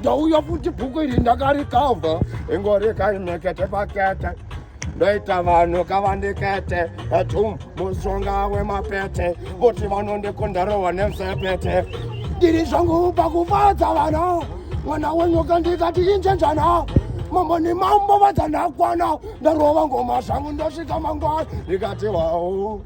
ndauya futi bhuku iri ndakarikavha ingorikainekete pakete ndoita vanhu kavandikete atum mushonga wemapete voti vanondikondarohwa nemsepete ndiri zvangu pakufadza vana mwana wenyu kandikati injenjana mambo ni mambo vadzanakwana ndarova ngoma zvangu ndosvika mangwana ndikati wawo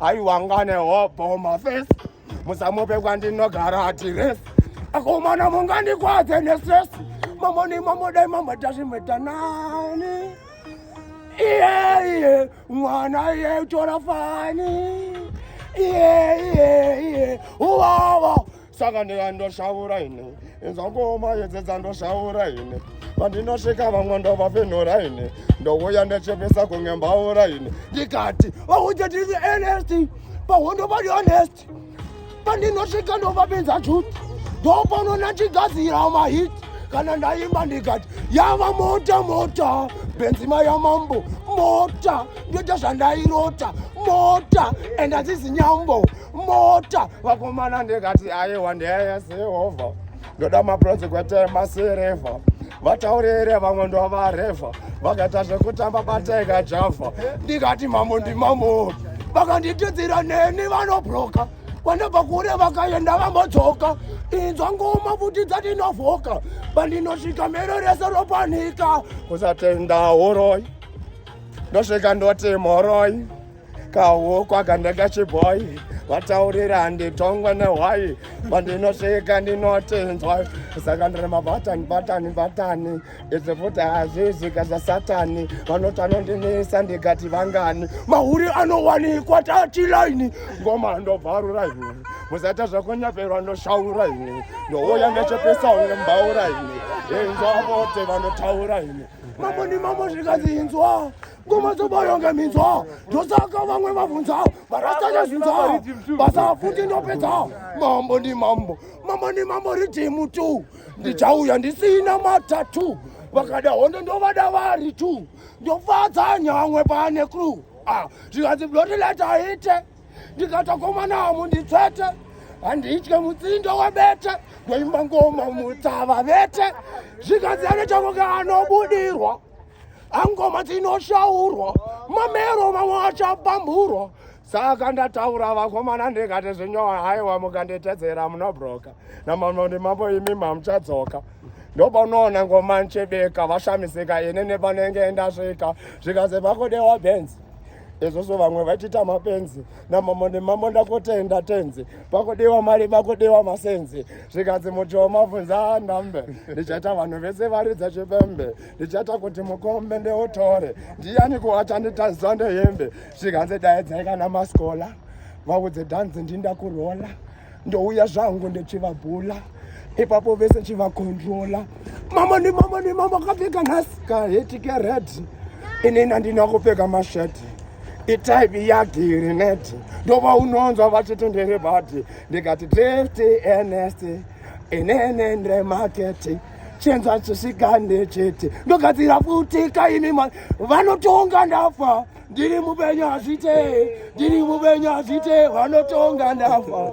aiwangane hobho mafesi musamupe kwandinogara adiresi akomana mungandikwadze nestress mamoni mamodai mamadazvimetanani iye iye mwana iye utora fani iye iye iye uwawa saka ndiya ndoshaura ine inzangooma yedzedza ndoshaura ine pandinosvika vamwe ndovafenhora ine ndouya ndechepesa kunge mbaura ine ndikati vaudze tiri honest pahondo vari honest pandinosvika ndovapinza chut ndopano ndandigadzira mahit kana ndaimba ndikati yava mota mota benzima yamambo mota ndoita zvandairota mota and azizi nyambo mota vakomana ndikati aiwa ndeye sehova ndoda maproject kwetema sireva vataurire vamwe ndovareva vakaita zvekutamba bateka java ndikati mambo ndimambo vakanditidzira neni vanobroka kwandabva kure vakaenda vambodzoka inzwa ngoma futi dzatinovhoka pandinosvika mero rese ropanika kusatenda horoi ndosvika ndoti mhoroi kahokwa kana kachibhoyi vataurira nditongwa nehwayi vandinosvika ndinotinzwa saka ndiri mabatani batani batani izvi futi hazvizika zvasatani vanoti anondinisa ndikati vangani mahuri anowanikwa tatilaini ngoma ndobvarura ini musaita zvakonyaperwa ndoshaura ini ndouya ndechepesa unge mbaura ini inzwa vote vanotaura ini mambo ndimambo zvikanzi inzwa ngoma dzobayonga minzwa ndosaka vamwe vabvunza varasanya zvinza basa futi ndopedza mambo ndi mambo mambo ndi mambo ridhimu tu ndichauya ndisina matatu vakada hondo ndovada vari tu ndofadza nyamwe pane cru ah, zvikanzi bloti letaite ndikatokomanamo nditsvete handitye mutsindo webete ndoimba ngoma mutsava vete zvikanzi anochakoka anobudirwa angoma dzinoshaurwa mamero mamwe achapamburwa saka ndataura vakomana ndikati zvinyowa haiwa mukanditedzera munobroka namamwe ndimambo imi mamuchadzoka ndopanoona ngoma nchebeka vashamisika ini nepanenge ndasvika zvikazi vakodewa benzi izvozvo vamwe vachiita mapenzi namambo nemambo ndakotenda tenzi pakudiwa mari pakudiwa masenzi zvikanzi muchiwo mabvunza anambe ndichaita vanhu vese varidza chipembe ndichaita kuti mukombe ndeutore ndiyani kuwachanditazwa ndehembe zvikanzi daidzai kana masikola vaudze dhanzi ndindakurola ndouya zvangu ndichivabhula ipapo vese chivakontrola mama nemama nemama akapfeka nhasi kaheti kered inini andina kupfeka masheti itaipi yagirineti ndova unonzwa vachitendere bati ndikati drifty enest inene ndremaketi chenza chisikande chete ndogadzira futi kaimi vanotonga ndafa ndiri mupenyu hazviite ndiri mupenyu hazviite vanotonga ndafa